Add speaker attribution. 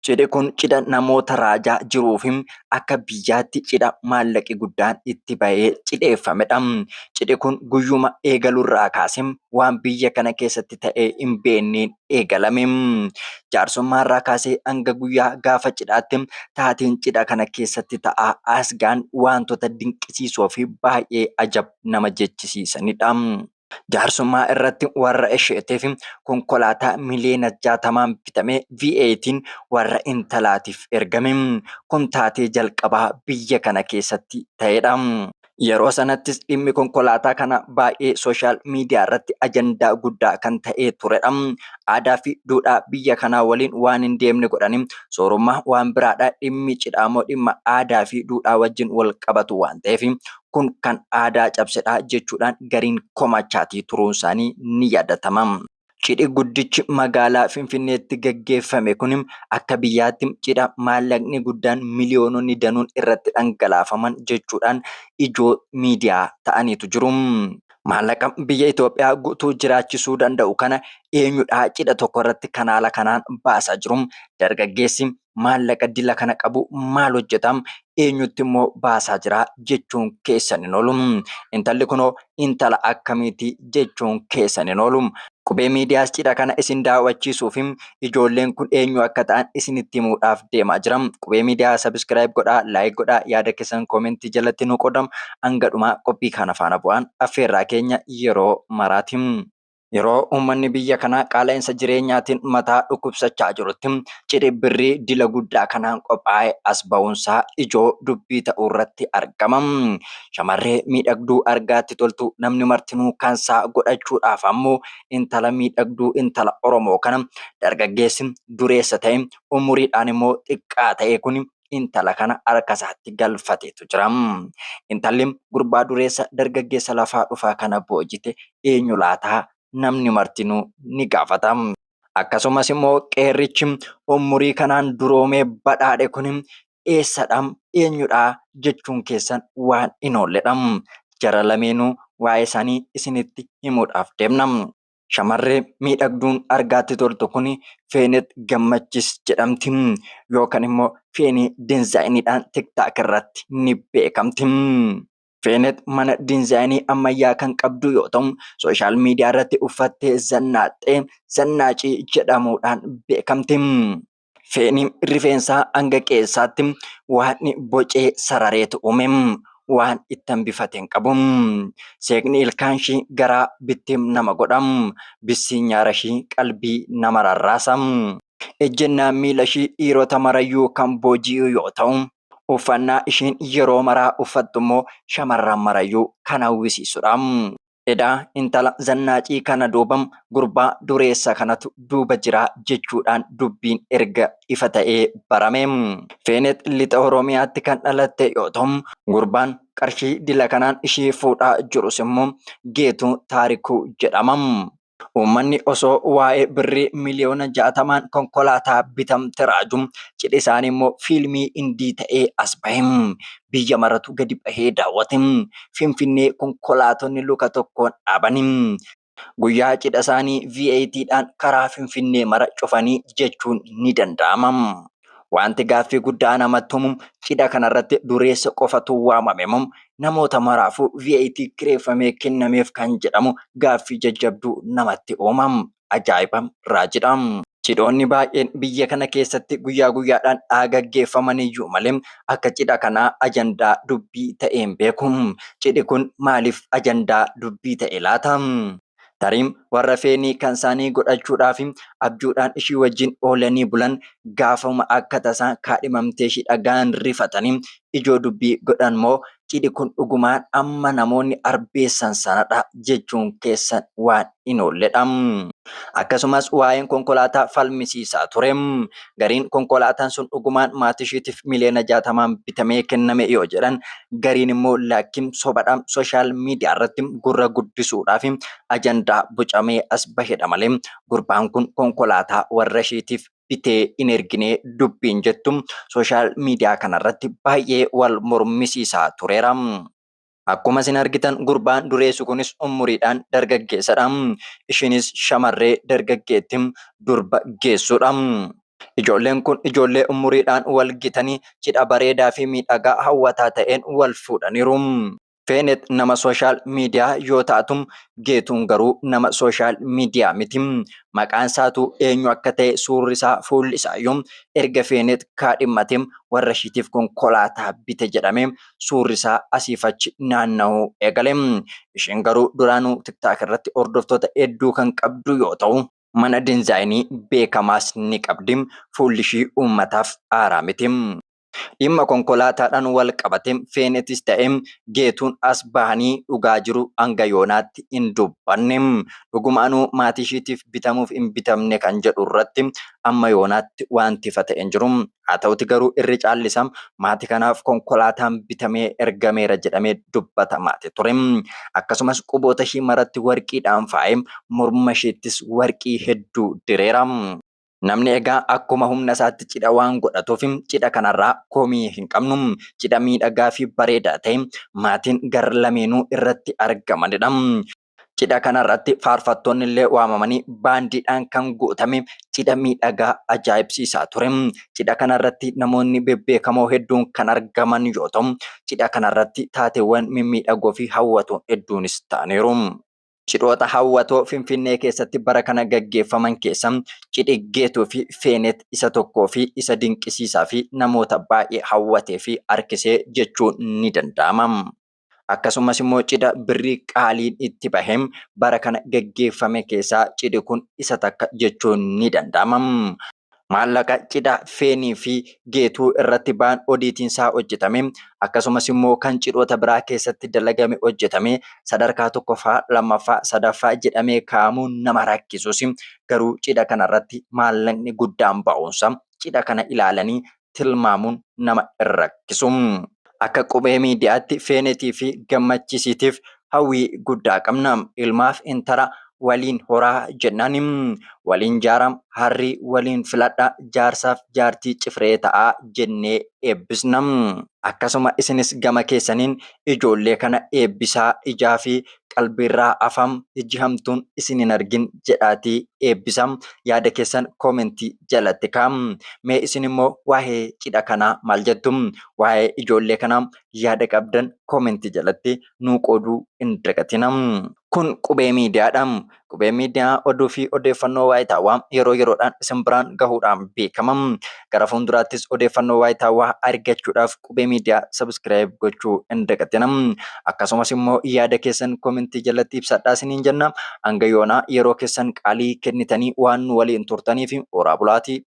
Speaker 1: Cidhi kun cidha namoota raajaa jiruu fi akka biyyaatti cidha maallaqi guddaan itti bahee cidheeffamedha. Cidhi kun guyyuma eegalurraa kaasee waan biyya kana keessatti ta'ee hin beekneen eegalame. Jaarsummaa irraa kaasee hanga guyyaa gaafa cidhaatti taateen cidha kana keessatti ta'aa asgaan wantoota dinqisiisoo fi baay'ee ajab nama jechisiisanidha. Jaarsummaa irratti warra isheetiif konkolaataa miliyoona jaatamaan bitamee V8 warra intalaatiif ergame. Kun taatee jalqabaa biyya kana keessatti ta'edha. Yeroo sanattis dhimmi konkolaataa kana baay'ee sooshaal miidiyaa irratti ajandaa guddaa kan ta'ee turedha. Aadaa fi duudhaa biyya kanaa waliin waan hin deemne godhanii soorummaa waan biraadha. Dhimmi cidhaa immoo dhimma aadaa fi duudhaa wajjin wal qabatu waan ta'eef kun kan aadaa cabsedha jechuudhaan gariin komachaatii turuun isaanii ni yaadatama. Cidhi guddichi magaalaa Finfinneetti gaggeeffame kun akka biyyaatti cidha maallaqni guddaan miliyoononni danuun irratti dhangalaafaman jechuudhaan ijoo miidiyaa ta'aniitu jiru. Maallaqa biyya Itoophiyaa guutuu jiraachisuu danda'u kana eenyudhaa cidha tokko irratti kanaala kanaan baasaa jiru? Dargaggeessi maallaqa dila kana qabu maal hojjeta eenyutti immoo baasaa jira jechuun keessan hin oolu. Intalli kunoo intala akkamiiti jechuun keessan hin oolu. Qubee miidiyaas cidha kana isin daawwachiisuuf ijoolleen kun eenyu akka ta'an isinitti himuudhaaf deemaa jira. Qubee miidiyaa sabiskiraayib godhaa, laayik godhaa, yaada keessan koomentii jalatti nu qoodam hanga dhumaa qophii kana faana bu'aan affeerraa keenya yeroo maraati. Yeroo uummanni biyya kanaa qaala'insa jireenyaatiin mataa dhukkubsachaa jirutti cidhi birrii dila guddaa kanaan qophaa'e as ba'uunsaa ijoo dubbii ta'uu irratti argama. Shamarree miidhagduu argaatti toltu namni martinuu kansaa godhachuudhaaf ammoo intala miidhagduu intala Oromoo kana dargaggeessi dureessa ta'e umuriidhaan immoo xiqqaa ta'e kun intala kana harka isaatti galfateetu jira. Intalli gurbaa dureessa dargaggeessa lafaa dhufaa kana boojite eenyu laataa namni martinuu ni gaafata. Akkasumas immoo qeerrichi umurii kanaan duroomee badhaadhe kun eessadha eenyudha jechuun keessan waan hin oolledha. Jara lameenuu waa'ee isaanii isinitti himuudhaaf deemna. Shamarree miidhagduun argaatti toltu kun Feenet Gammachis jedhamti. Yookaan immoo Feenee Diinzaayiniidhaan TikTok irratti ni beekamti. Feenet mana diinzaayinii ammayyaa kan qabdu yoo ta'u, sooshaal miidiyaa irratti uffattee zannaaxxee zannaacii jedhamuudhaan beekamti. Feeni rifeensaa hanga qe'eessaatti waan bocee sarareetu uume. Waan itti hambifate hin qabu. Seeqni ilkaan ishii garaa bittim nama godha. Bissii nyaara ishii qalbii nama rarraasa. Ejjennaan miila ishii dhiirota marayyuu kan booji'u yoo ta'u, uffannaa ishiin yeroo maraa uffattu immoo shamarran marayyuu kan hawwisiisudha. Edaa intala zannaacii kana duubam gurbaa dureessa kanatu duuba jira jechuudhaan dubbiin erga ifa ta'ee barame. Feenet lixa Oromiyaatti kan dhalatte yoo ta'u, gurbaan qarshii dila kanaan ishii fuudhaa jirus immoo Geetuu Taarikuu jedhama. Uummanni osoo waa'ee birrii miliyoona jaatamaan konkolaataa bitamte raaju, cidhi isaanii immoo fiilmii Hindii ta'ee as bahe. Biyya maratu gadi bahee daawwate. Finfinnee konkolaatonni luka tokkoon dhaabani. Guyyaa cidha isaanii VATdhaan karaa Finfinnee mara cufanii jechuun ni danda'ama. Wanti gaaffii guddaa namatti umu cidha kanarratti dureessa qofatu waamame moo namoota maraafuu VAT kireeffamee kennameef kan jedhamu gaaffii jajjabduu namatti uuma. Ajaa'iba! Raajidha! Cidhoonni baay'een biyya kana keessatti guyyaa guyyaadhaan haa gaggeeffaman iyyuu malee akka cidha kanaa ajandaa dubbii ta'ee hin beeku. Cidhi kun maaliif ajandaa dubbii ta'e laata? Tarim warra feenii kan isaanii godhachuudhaaf abjuudhaan ishii wajjin oolanii bulan gaafuma akka tasaa kaadhimamtee ishii dhaga'an rifatanii ijoo dubbii godhan moo cidhi kun dhugumaan amma namoonni arbeessan sanadha jechuun keessan waan hin oolledha. Akkasumas waa'een konkolaataa falmisiisaa ture. Gariin konkolaataan sun dhugumaan maatishiitiif miliyoona jaatamaan bitamee kenname yoo jedhan, gariin immoo laakkim sobadha sooshaal miidiyaa irratti gurra guddisuudhaaf ajandaa bocamee as bahedha malee gurbaan kun konkolaataa warra ishiitiif bitee hin erginee dubbiin jettu sooshaal miidiyaa kanarratti baay'ee wal mormisiisaa tureera. Akkuma isin argitan gurbaan dureessu kunis umuriidhaan dargaggeessadha. Ishiinis shamarree dargaggeetti durba geessuudha. Ijoolleen kun ijoollee umuriidhaan wal gitanii cidha bareedaa fi miidhagaa hawwataa ta'een wal fuudhaniiru. Feenet nama sooshaal miidiyaa yoo taatu, Geetuun garuu nama sooshaal miidiyaa miti. Maqaan isaatuu eenyu akka ta'e, suurri isaa, fuulli isaayyuu erga Feenet kaadhimmatee warra ishiitiif konkolaataa bite jedhamee suurri isaa asiif achi naanna'uu eegale. Isheen garuu duraanuu TikTok irratti hordoftoota hedduu kan qabdu yoo ta'u, mana dinzaayinii beekamaas ni qabdi. Fuulli ishii uummataaf haaraa miti. Dhimma konkolaataadhaan wal qabate Feenetis ta'e Geetuun as bahanii dhugaa jiru hanga yoonaatti hin dubbanne. Dhugumaanuu maatii ishiitiif bitamuuf hin bitamne kan jedhu irratti amma yoonaatti waanti ifa ta'e hin jiru. Haa ta'uti garuu irri caalli isaa maatii kanaaf konkolaataan bitamee ergameera jedhamee dubbatamaati ture. Akkasumas quboota ishii maratti warqiidhaan faayee morma ishiittis warqii hedduu direera. Namni egaa akkuma humna isaatti cidha waan godhatuuf cidha kanarraa komii hin qabnu. Cidha miidhagaa fi bareedaa ta'e maatiin gar lameenuu irratti argamanidha. Cidha kanarratti faarfattoonnillee waamamanii baandiidhaan kan guutame cidha miidhagaa ajaa'ibsiisaa ture. Cidha kanarratti namoonni bebbeekamoo hedduun kan argaman yoo ta'u, cidha kanarratti taateewwan mimmiidhagoo fi hawwatoon hedduunis ta'aniiru. Cidhoota hawwatoo Finfinnee keessatti bara kana gaggeeffaman keessa cidhi Geetuu fi Feeneet isa tokkoo fi isa dinqisiisaa fi namoota baay'ee hawwatee fi harkisee jechuun ni danda'ama. Akkasumas immoo cidha birrii qaaliin itti bahe bara kana geggeeffame keessaa cidhi kun isa takka jechuun ni danda'ama. Maallaqa cidha Feenii fi Geetuu irratti ba'an odiitiin isaa hojjetame akkasumas immoo kan cidhoota biraa keessatti dalagame hojjetame sadarkaa tokkoffaa, lammaffaa, sadaffaa jedhamee kaa'amuun nama rakkisus garuu cidha kanarratti maallaqni guddaan ba'uunsa cidha kana ilaalanii tilmaamuun nama hin rakkisu. Akka Qubee Miidiyaatti Feenetii fi Gammachiisiitiif hawwii guddaa qabna. Ilmaaf intala waliin horaa jennaan. Waliin jaaraa, harrii waliin filadhaa, jaarsaaf jaartii cifree ta'aa jennee eebbisna. Akkasuma isinis gama keessaniin ijoollee kana eebbisaa, ijaa fi qalbiirraa hafa ijji hamtuun isin hin argin jedhaatii eebbisa yaada keessan koomentii jalatti kaa mee isin immoo waa'ee cidha kanaa maal jettu waa'ee ijoollee kanaa yaada qabdan koomentii jalatti nuu qooduu hin dagatina kun qubee miidiyaadha Qubee Miidiyaa oduu fi odeeffannoo waayitaawaa yeroo yeroodhaan isin biraan gahuudhaan beekama. Gara fuulduraattis odeeffannoo waayitaawaa argachuudhaaf Qubee Miidiyaa subscribe gochuu hin dagatina. Akkasumas immoo yaada keessan komentii jalatti ibsadhaa isiniin jenna. Hanga yoonaa yeroo keessan qaalii kennitanii waan nu waliin turtaniif horaa bulaatii.